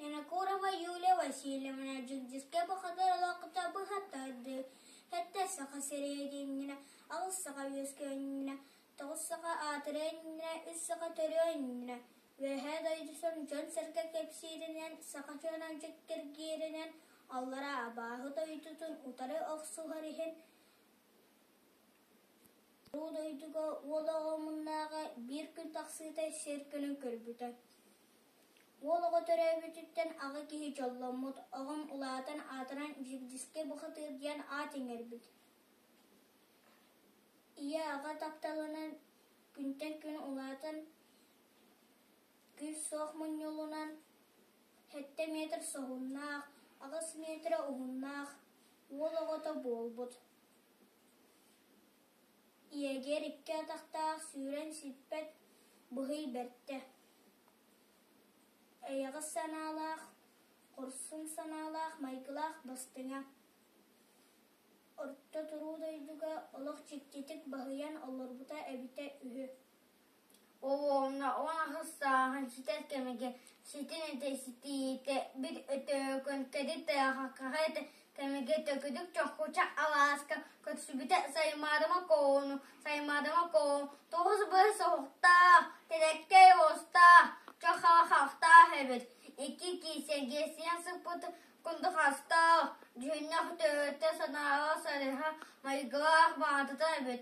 Винокурова Юлия Васильевна дьигдьискэй бухатыыр олоҥхото быһа тардыы сэттэ саха сэриитиннэ, аҕыс саха үөскүөннэ, тоҕус саха аатырыанньа, үс саха төрүөннэ, Үөһээ дойду сон дьон-сэргэ кэпсииринэн, саха дьонун дьиккиргииринэн, аллараа абааһы дойдутун утары охсуһар иһин Уруу дойдуга уол оҕо муннааҕы биир күн тахсыыта сир кунун көрбүтэ Уол оҕо төрөөбүтүттэн аҕа киһи дьолломмут оҕом улаатан аатыран Дьирдьискэ бухатыыр диэн аат иҥэрбит Ийэ аҕа тапталынан күнтэн күн улаатан күүс суох мунньулунан сэттэ метр соһуннаах, аҕыс метрэ уһуннаах уол оҕото буолбут Иэгиэр икки атахтаах сүүрэн сиппэт быһый бэртэ, эйэҕэс санаалаах, хорсун санаалаах майгылаах бастыҥа, орто туруу дойдуга олох дьиктитик баһыйан олорбута эбитэ үһү Уонна уон аһыс сааһын ситэр кэмигэр ситин этэ ситиитэ бит Өтөкөн тэрилтэҕэ хаһан эрэ кэмигэр төгүрүк чохуча алааска көрсүбүтэ Саймаадама Коону Саймаадама Коон тоҕус быыс оһохтоох, тэлэктэй уостаах, чох хахахтаах эбит. Икки киисэргэ сиэн сыппыт кундухастоох, дьүһүннэх төһөтө санааҕа сарыһа майгылаах баатата эбит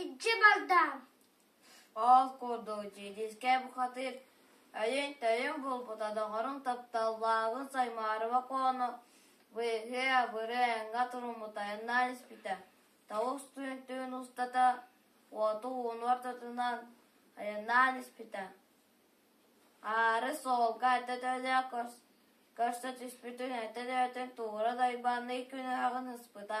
Ычча бардаам Ол курдук дьиидискэ бухатыыр өйүн-төйүн булбута доҕорун тапталлааҕын Саймаарыба Коону быыһыы-абырыы эҥҥэ туруммута айаннаан испитэ, тоҕус түүн-түүн устата уоту ууну ортотунан айаннаан испитэ. Аары суолга этэ-төлө көрсө түспүтүн этэ-төтүн туура дайбанныы күнүһэҕин ыспыта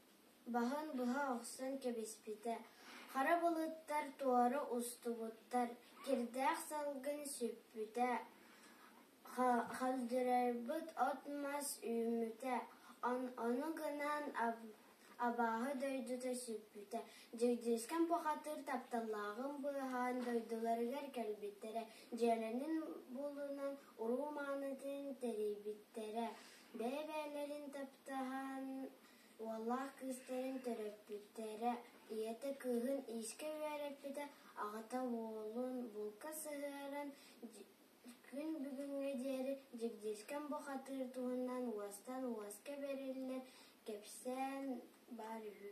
Баһын быһа охсон кэбиспитэ, хара былыттар туора устубуттар, кирдээх салгын сүппүтэ, халдьарайбыт от-мас үүммүтэ, ону гынан абааһы дойдута сүппүтэ, Дьэгдьиискэм Бухатыыр тапталлааҕын быыһаан дойдуларыгар кэлбиттэрэ, дьиэлэрин булунан уруу маанытын тэрийбиттэрэ, бэйэ-бэйэлэрин таптаһан Уоллаах кыыстарын төрөппүттэрэ, ийэтэ кыыһын иискэ үөрэппитэ, аҕата уолун булка сыһыаран күн бүгүҥҥэ диэри дьигдиискэн бухатыыр туһунан уостан уоска бэриллэр кэпсээн баар үһү